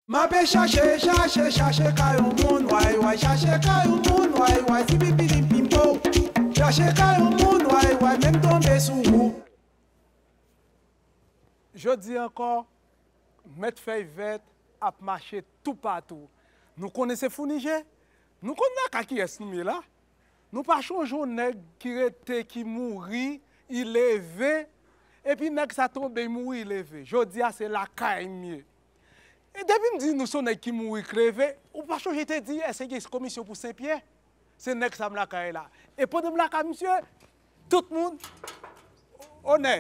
Mape chache, chache, chache ka yon moun way way Chache ka yon moun way way Zipipilimpimpow Chache ka yon moun way way Men m tonbe sou ou. Jodi ankò, Mèt Fèy Vèt ap mache toupatou. Nou konnen se founi je? Nou konn lakay kiyès nou ye la? Nou pa chonje yon nèg ki rete, ki mouri, i leve, epi nèg sa tonbe, i mouri, i leve. Jodi a se lakay m ye. E depi m di nou son nèg ki mouri kreve, ou pa chonje te di èske gen komisyon pou Senpyè? Se nèg sa m lakay la. E pandan m lakay misye, tout moun Onè!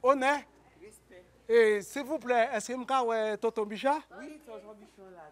Onè! Respè! E silvouplè èske m ka wè Tonton Bicha? Wi, Tonton Bicha la.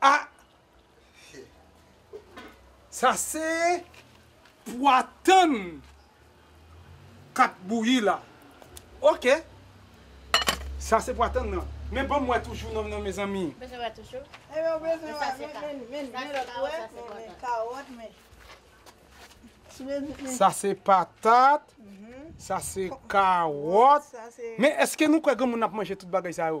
Ah Sa se pwa tann kap bouyi la ok Sa se pwa tann nan men banm wè toujou nan nan mezanmi. Ou bezwen wè toujou? Epi ou bezwen wè men men men lòt wè men kawòt men Sa se patat Sa se kawòt men eske nou kwè granmoun ap manje tout bagay sa yo?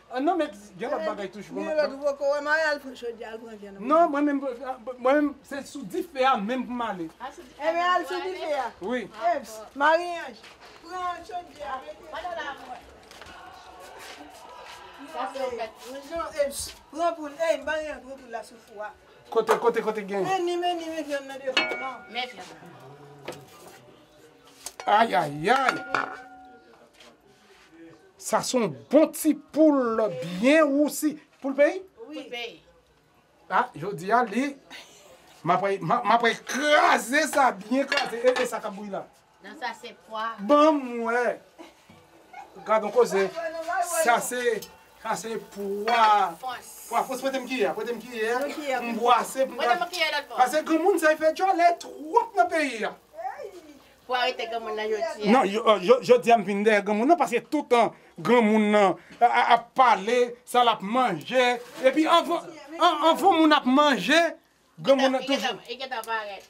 An non met gen lot bagay toujou pou mwen pran. Non mwen menm mwen menm se sou dife a menm pou m ale. Wi. Kote kote kote gen. Ayayay. Sa son bon ti poul byen rousi. Poul peyi? Poul peyi. A jodi a li map re kraze sa byen kraze. E sa kap bouyi la? Non sa se pwa. Banm wè. Gadon koze. Sa se sa se pwa. Fons. Pwa fons pretem kiyè a. Pretem kiyè a. Yon kiyè pou m bwase. Pretem yon kiyè lòt bò. Pase granmoun sa e fè djòlè twòp nan peyi a. Pou arete granmoun nan jodia. Non jodia m vin dèyè granmoun nan paske toutan granmoun nan ap pale sa lap manje epi anvan moun ap manje granmoun nan toujou. Li gentan parèt.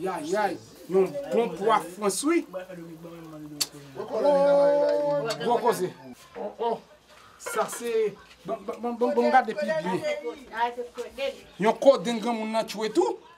Yayay yon bon pwa frans wi. Ooh gwo koze. Oh oh sa se banm gade pi byen. Yon kodenn granmoun nan tchwe tou.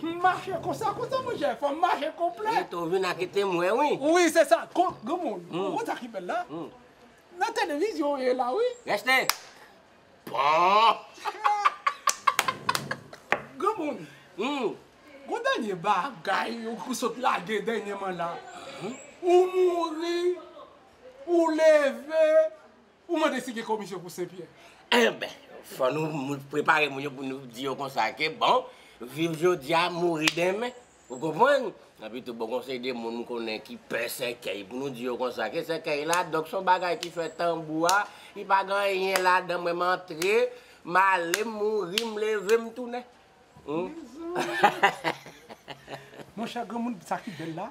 Humm mache konsa konsa monchè fòm mache konplè. Rete ou vin ak ete m wè wi. Wi se sa granmoun ou wè sa ki bèl la nan televizyon ou ye la wi. Reste Granmoun gon dènye bagay ou sot lage dènyeman la ou mouri ou leve. Ou mande si gen komisyon pou Senpyè? Enben, fò nou prepare moun yo pou nou di yo konsa ke bon, viv jodi a, mouri denmen. Ou konprann? Epitou bon kon se de moun m konnen ki pè sèkèy pou nou di yo konsa ke sèkèy la, donk se yon bagay ki fè tanbou a, li pa gen anyen ladan mwen m antre, m ale, m mouri, m leve, m tounen. Mezanmi! Monchè granmoun sa ki bèl la?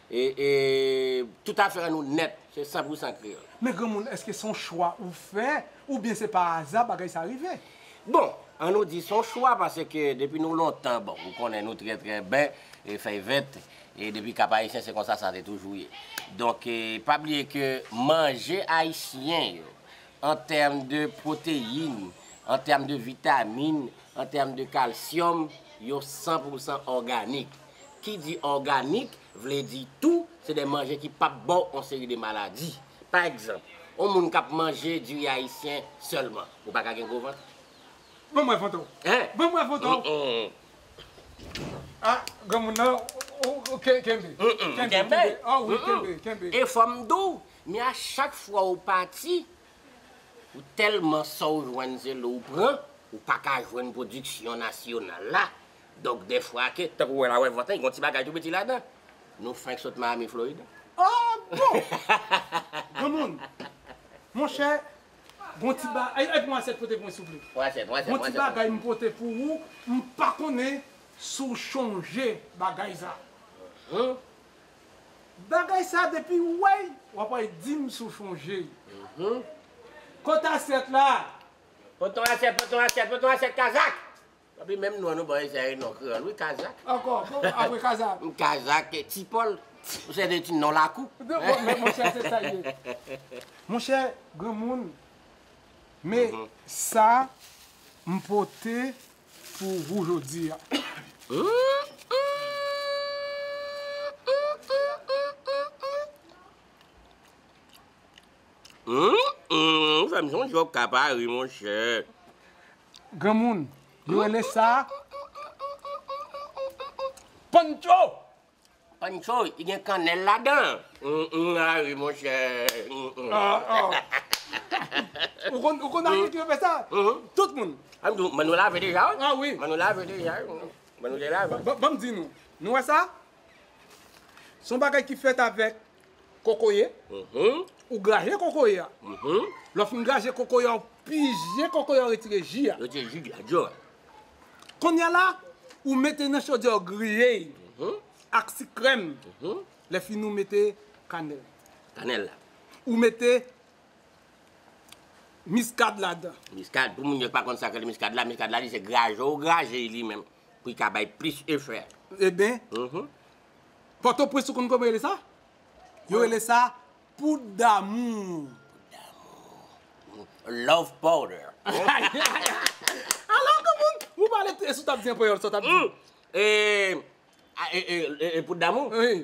E tout afè nou nèt se san pou san kreyòl. Men granmoun èske se yon chwa ou fè oubyen se pa aza bagay sa rive? Bon, an nou di se yon chwa paske depi nou lontan bon ou konnen nou trè trè ben e fèy vèt e depi Kap Ayisyen se konsa sa te toujou ye. Donk pa bliye ke manje ayisyen yo an tèm de pwoteyin, an tèm de vitamin, an tèm de kalsyòm yo san pou san òganik. ki di òganik vle di tou se de manje ki p ap ba w on seri de maladi. Pa egzanp, on moun k ap manje diri ayisyen sèlman, ou pa ka gen gwo vant. Ban m wè foto w. Hein? Ban m wè foto w. Hum-hum. Ah, granmoun nan, ou kenbe. Kenbe, kenbe. Oh oui, kenbe, kenbe. E fò m di w, men a chak fwa ou pati, ou tèlman sa w jwenn se lou w pran, ou pa ka jwenn pwodiksyon nasyonal la, Donk dèfwa ke, tankou wè la wè vant lan, gon ti bagay tou piti ladan. Nou fenk sot Miami, Florida. Ah bon! Granmoun! Monchè, gon ti ba, e pou yon asyèt pote pou mwen souple. Yon asyèt, yon asyèt. Gon ti bagay m pote pou ou, m pa konnen si w chonje bagay sa. Hum! Bagay sa depi ou wè l, w ap wè, di m si w chonje l. Hum! Kot asyèt la? Pote yon asyèt, pote yon asyèt, pote yon asyèt kazak! Anpi menm non nou bay sa e non kreyòl wi kazak. Ankò apre kazak. Kazak e ti pòl se de ti non lakou. Men monchè se sa l ye. Monchè granmoun men sa m pote pou wou jodi a. Ou fè m sonje okap a wi monchè. Granmoun yo rele sa Pancho! Pancho, li gen kanèl ladan. A wi monchè. Ou konn atis ki yo fè sa? Tout moun. Manou lave deja wi. A wi. Manou lave deja wi. Manou te lave. Banm di nou, nou wè sa? Son bagay ki fèt avèk. Kokoye, ou graje kokoye a. Lè w fin graje kokoye a, ou pije kokoye a, ou retire ji a. Retire ji a, ji a. Kounye a la, ou mete nan chodyè a, ou griye li ak sik krèm. Lè fini ou mete kanèl. Kanèl la. Ou mete miskad ladan. Miskad, pou moun yo ki pa konn sa ki rele miskad la, miskad la li se graje ou graje li menm. pou li ka bay plis efè. Eben, Pòtoprens ou konn kòman yo rele sa? Yo rele sa poud damou. Love powder. Alò kòman ou pale, e si w t ap di an panyòl sa w t ap di? E, e, e, e, e, poud damou? Wi.